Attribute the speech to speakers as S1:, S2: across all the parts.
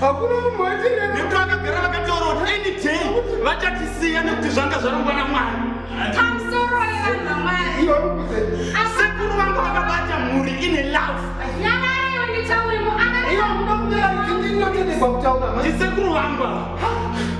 S1: hakuna
S2: munhu waitengera nekuti vakagara vakataura
S1: kuti any day vachatisiya nekuti zvanga zvarongwa namwari
S2: sekuru vanga
S1: vakabata mhuri ine
S2: love ndisekuru vanga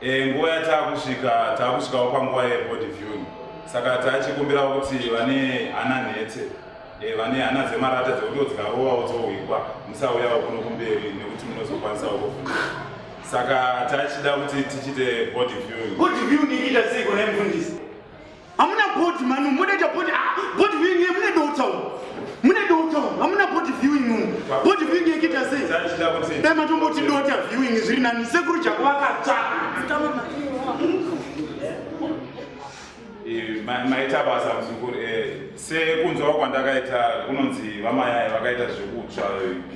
S3: Eh, nguva yataakusvika taakusvikawo panguva yebody viewing saka tachikumbirawo kuti vane hana nhete eh, vane hana dzemarata dzekuti dzikarovawo dzohwikwa musauyawo kuno kumberi nekuti munozokwanisawo kufunda saka tachida kuti tichite body viewing body viewing iita sei
S1: kune mfundisi Hamuna board manu, munoita board, ah, board viewing ye mune dota umu. Mune dota umu, hamuna board viewing umu. Board viewing ye kita sei? Dai
S3: matomboti dota
S1: viewing zviri nani, sekuru jako vakatsva.
S3: Eh, maita basa muzukuru eh, sekunzwa kwandakaita kunonzi vamayai vakaita zvekutsva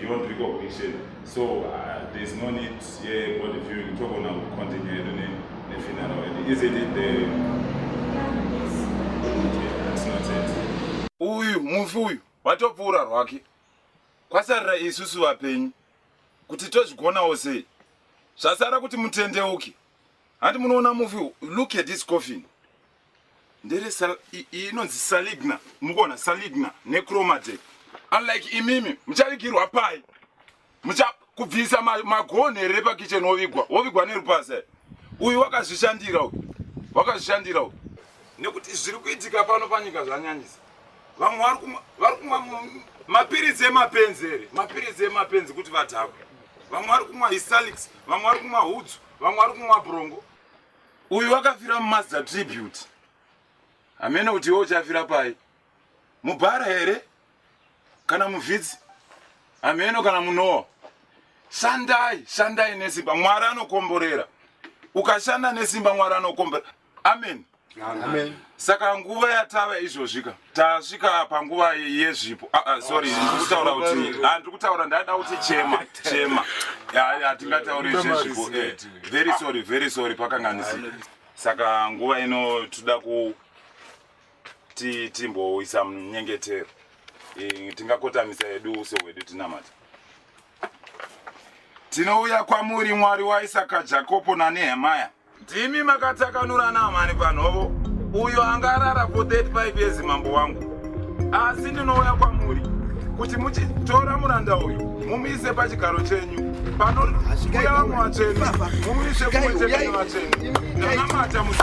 S3: beyond recognition so uh, there is no need yebody viewing togona kucontinue hedu nefinaro hedu isn't it the uyu mufi uyu watopfuura rwake kwasarira isusu vapenyu kuti tozvigonawo sei zvasara kuti mutendeuke handi munoona mufi look at this coffin ndere inonzi saligna mukuona saligna necromate unlike imimi muchavigirwa pai mucha kubvisa magonhi here pakitchen wovigwa wovigwa nerupazi uyu wakazvishandira uyu wakazvishandira uyu nekuti zviri kuitika pano panyika zvanyanyisa vamwe vari kumwa mapiritsi emapenzi here mapiritsi emapenzi kuti vadhakwe vamwe vari kumwa hisalix vamwe vari kumwa hudzu vamwe vari kumwa brongo uyu wakafira mumazda tribute hamene kuti iwe uchafira pai mubhara here kana muvhidzi hameno kana munowa shandai shandai nesimba mwari anokomborera ukashanda nesimba mwari anokomborera amen, amen. amen.
S2: saka nguva
S3: yatava izvozvika tasvika panguva yezvipo ah, ah, sorry ndikutaura kuti ah, ndiri kutaura ndaida kuti chema chema hatingatauri zvezvipo eh, very sorry very sorry pakanganisi saka nguva ino toda kuti timboisa munyengetero eh, tingakotamisa yedu uso hwedu tinamata tinouya kwamuri mwari waisaka jakobo nanehemaya Ndimi makatakanurana mhani panhovo. Uyo anga arara for 35 years mambo wangu. Asi ndinouya kwamuri kuti muchitora muranda uyu mumuise pachigaro chenyu panouya vamwe vatsvene mumuise kumwe chete nevatsvene. Ndinamata musi.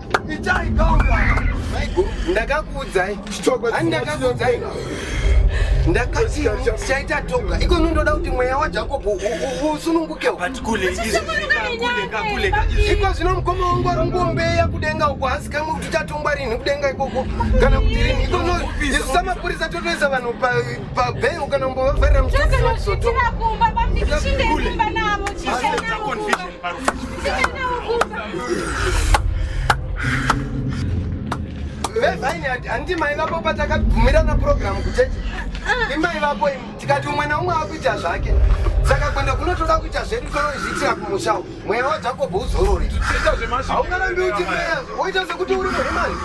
S2: Itai gauka. Maiguru, ndakakuudzai. Chitoko. Ani ndakakuudzai. Ndakati chaita toga. Iko ndoda kuti mweya wa Jacob usununguke. But kule izvi
S1: kule kakule.
S2: Iko zvino mukoma wangu ari ngombeya kudenga uko hasi kamwe kuti chatongwa rini kudenga ikoko kana kuti rini. Iko no isu samapurisa totoisa vanhu pa pa bail kana mbovavharira mchitoko. Kule. Kule. vevainati handiti mai vako patakabvumirana purogiramu kuchechi imai vako imi tikati umwe naumwe akuita zvake saka kwenda kunotoda kuita zvedu tozviitira kumusha mweya wajakobho uzorore haungarambi uti mweya woita sekuti uri muhimani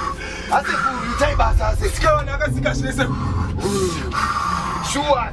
S2: asekuru itai basa asekuru
S1: shuwa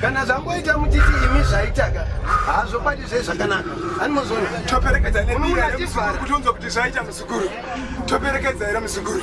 S4: kana zvamboita
S2: muchiti imi zvaitaka hazvo pati zve zvakanaka animozoona toperekedza
S1: nemiraachivara kuti unzwa kuti zvaita muzukuru toperekedza here muzukuru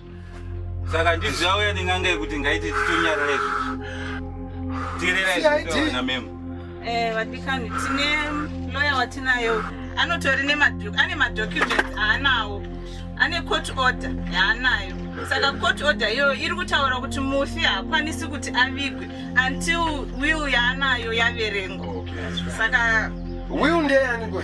S5: saka ndizvo yauya nenganga yekuti ngaiti titonyarara izvi tirereaizvitaona memo eh, vadikani
S6: tine loya watinayo anotori ane madocuments aanawo ane court order yaanayo saka court order iyoyo iri kutaura kuti mufi haakwanisi kuti avigwe until will yaanayo yaverengwa saka will
S2: ndeyaniko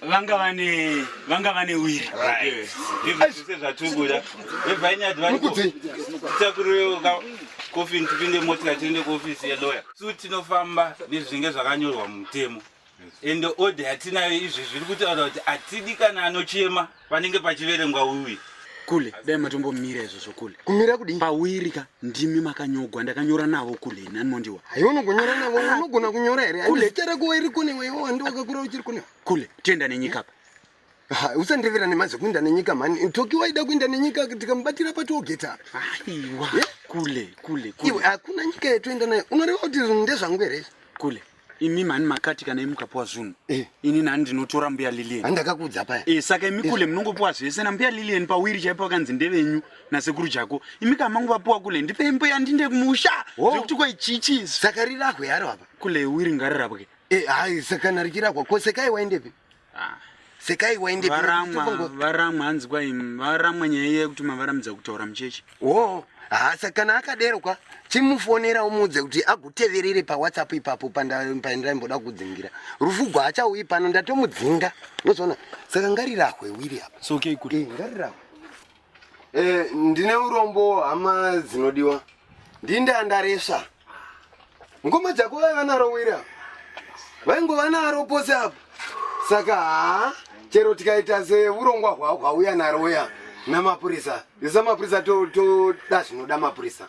S2: vanga
S7: vane vanga vane wiri izvese zvatukuda
S5: vebvai nyati vari kutakurireuka kofini tipinde motika tiende kuofisi yeloya su tinofamba nezvinenge zvakanyorwa mumutemo ende odha yatinayo izvi zviri kutaura kuti atidi kana anochema panenge pachiverengwa wiwi kule dai
S7: matombomira izvo zvokule kumira kudii pawirika
S2: ndimi
S7: makanyogwa ndakanyora navo kule nani mondiwa haiwa unogonyora navo ah,
S2: unogona kunyora here kule chara kuva iri kune wewe wandi wakakura uchiri kune kule tienda nenyika
S7: pa usandevera nemazi
S2: kuinda nenyika mhani toki waida kuinda nenyika tikamubatira patogeta aiwa
S7: kule kule kule hakuna
S2: nyika yetoenda nayo unoreva kuti ndezvangu here kule imi
S7: mhani makati kana imi mukapuwa zvunhu eh. ini nani ndinotora mbuya lilian andakakuudza paya e, saka
S2: imi kule eh. munongopuwa
S7: zvese nambuya lilian pawiri chaipo vakanzi ndevenyu nasekuru jako imi kana mangu vapuwa kule ndipei mbuya ndinde kumusha oh. zvekuti kwai chichi saka rirahwe yaro
S2: apa kule wiri ngarirapwe
S7: e, hai sakana
S2: richirahwa ko sekai waindepi Ah. sekai waende varamwa varamwa
S7: hanzi kwai varamwa nyaya iya yekuti mavaramidza kutaura mucheche wo hasa
S2: kana akadero kwa chimufonera umuudze kuti aguteverere pawhatsapp ipapo pandaimboda kudzingira rufu gwaachaui pano ndatomudzinga nozvaona saka ngarirahwe wiri apa so okay, eh, ngarirahwe Eh, ndine urombo hama dzinodiwa ndindandaresva ngoma dzako vaiva naro wira vaingova naro pose apo saka haa chero tikaita seurongwa hwauya naro uya namapurisa isamapurisa toda zvinoda mapurisa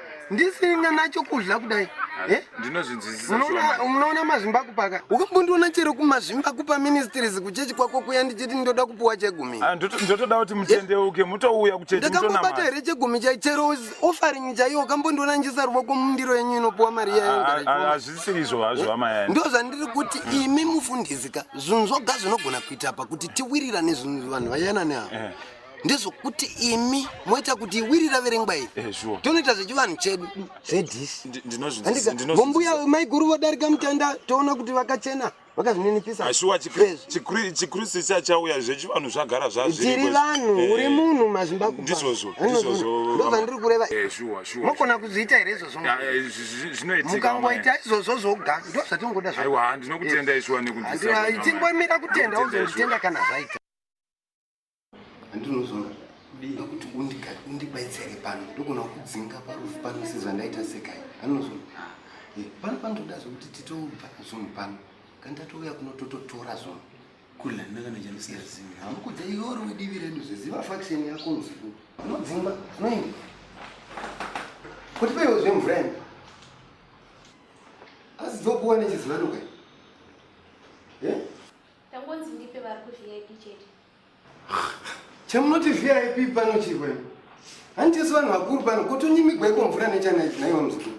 S2: ndisina nacho kudla kudai eh?
S3: ndinozvinzwisisamunoona
S2: mazvimba kupaka ukambondiona chero kumazvimba kupa ministries kuchechi kwako kuya ndichiti ndoda kupuwa chegumi ah, ndotoda kuti
S3: mutendeuke mutouya kuchechindakambobata here chegumi
S2: chai chero offering chaiyo ukambondiona njiisa ruvoko mundiro yenyu inopuwa mari yayohazvisiri ah, ah, izvo
S3: hazvo amayai eh? ndo zvandiri kuti
S2: hmm. imi mufundisi ka zvinhu zvoga zvinogona kuita pa kuti tiwirirane zvinhu vanhu vayanane ava eh. ndezvokuti imi moita kuti wiri raverengwa iri eh, tonoita zvechivanhu chedu zvedisvombuya maiguru vodarika mutanda toona kuti vakachena vakazvininipisachikristu
S3: eh, chachauya zvechivanhu zvagara zvazviri vanhu
S2: eh, uri munhu mazvimbakundizvozvondozvandiri kureva mokona kuzviita here izvozvomukangoita izvozvo zvoga ndo zvatingoda
S3: zvatingoimira kutenda
S2: uzonditenda kana zvaita Andino zvona. Ndinga kuti undiga undibaitsire pano. Ndokona kudzinga parufu pano sezvandaita sekai. Andino zvona. Ah, eh, pano pano ndoda zvekuti titobva zvunhu pano. Kandatouya kuno tototora zvunhu. Kula ndanga
S7: ndacharusiya zimwe. Hamukudza iwori
S2: wedivi redu zveziva faction yako usiku. Unodzimba. Unoenda. Kuti peiwo zvemvura ino. Asi dzokuwa nechizivano kai. Tangonzi ndipe vari kuVIP chete. Chamunoti VIP pano chirwe. Hanti yesu vanhu vakuru pano kotonyimigwa iko mvura nechana ichi naiwa mzukuru.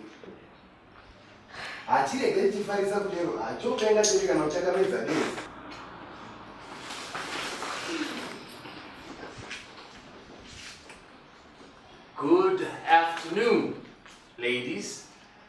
S2: Hachirege tifarisa kudero hacho kaenda chete kana uchakamedza dei.
S8: Good afternoon, ladies.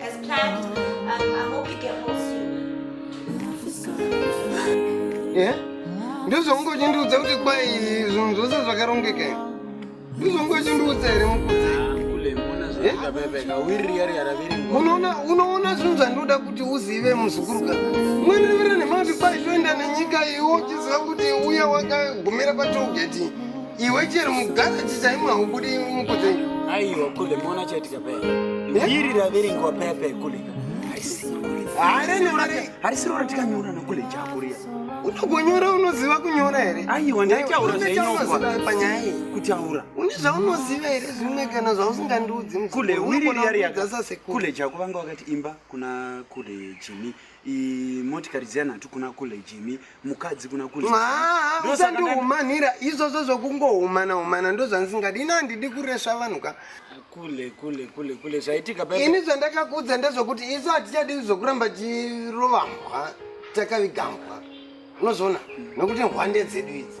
S9: As planned,
S2: um, I hope you get home soon. Yeah? ndozvongochindiudza kuti kwai zvinhu zvose zvakarongeka ndozvongochindiudza here mukudzi unoona unoona zvinhu zvandoda kuti uzive muzukuruka mwenevera nemati kwai toenda nenyika iwo uchiziva kuti uya wakagumira patogeti Iwe chero mugaraji
S7: chaimo
S2: haubudi mukudze. Aiwa
S7: kule mona
S2: chaitika
S7: paya.
S2: Eh?
S7: Iri raverengwa paya paya kule. harisirora tikanyora nokule chakuriya unogonyora
S2: unoziva kunyora here aiwa ndaitaura
S7: panyaya
S2: iyi kutaura une
S7: zvaunoziva
S2: here zvimwe kana zvausingandiudzi kule
S7: wiriyariyakule chakuvanga wakati imba kuna kule jimi motikari dziya nhatu kuna kule jimi mukadzi kuna kule usandihumanira
S2: izvozvo zvokungohumana humana ndozvandisingadi ini handidi kuresva vanhu ka kule kule kule
S7: kule zvaitika ini zvandakakuudza
S2: ndezvokuti isu hatichadi zvokuramba chirovambwa takavigambwa unozviona nokuti hwande dzedu idzi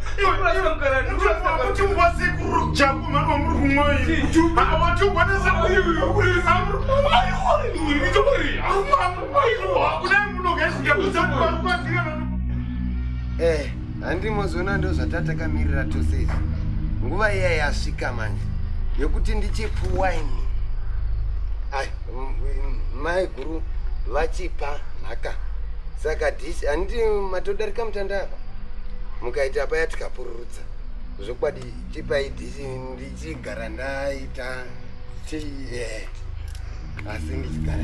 S2: Eh, handi mozoona ndozvatatakamira tose izvi nguva iya yasvika manje yekuti ndichipa waini ai mai guru vachipa nhaka saka disi handiti matodarika mutanda apa mukaita paya tikapururutsa zvokwadi tipai dhisi ndichigara ndaita ti eh, asi ndichigara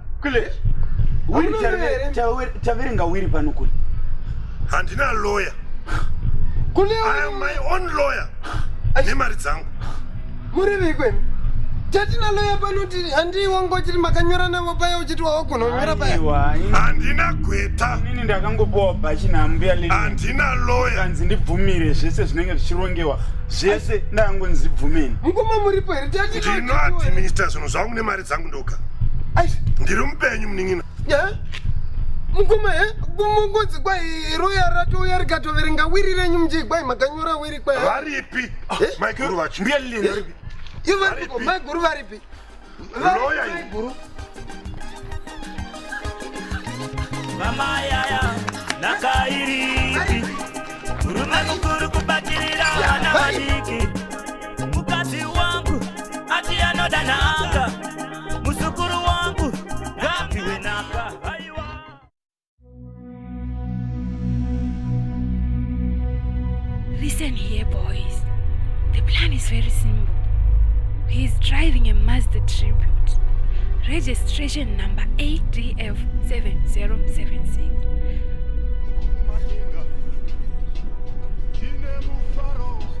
S3: kule
S7: taverenga wiri pano kule handina
S3: lawyer kule
S2: i am my
S3: own lawyer nemari dzangu muri vikwe
S2: tatina lawyer pano ti handii wangu uchiti makanyora navo paya uchiti wawagona kunyora paya handina gweta
S3: nini ndakangopowa
S7: bhachi nambuya lii handina lawyer
S3: kanzi ndibvumire
S7: zvese zvinenge zvichirongewa zvese ndakangonzi bvumeni mukoma muripo
S2: here tatinoadminister
S3: zvinhu zvangu nemari dzangu ndoga ndiri mupenyu munin'ina
S2: mukoma he kungonzi kwai roya ratouya rikatoverenga wiri renyu mjii kwai makanyora wiri kwai varipi
S3: maiguru vacho mbuya lilini varipi
S7: ivo varipiko
S2: maiguru varipi roya maiguru
S10: mama yaya nakairipi murume mukuru kubatirira vana vadiki mukadzi wangu ati anoda nhaka muzukuru wangu ngapiwe nhaka
S4: Listen here boys the plan is very simple he is driving a Mazda tribute registration number ADF 7076 Madenga, Chine Mufaro.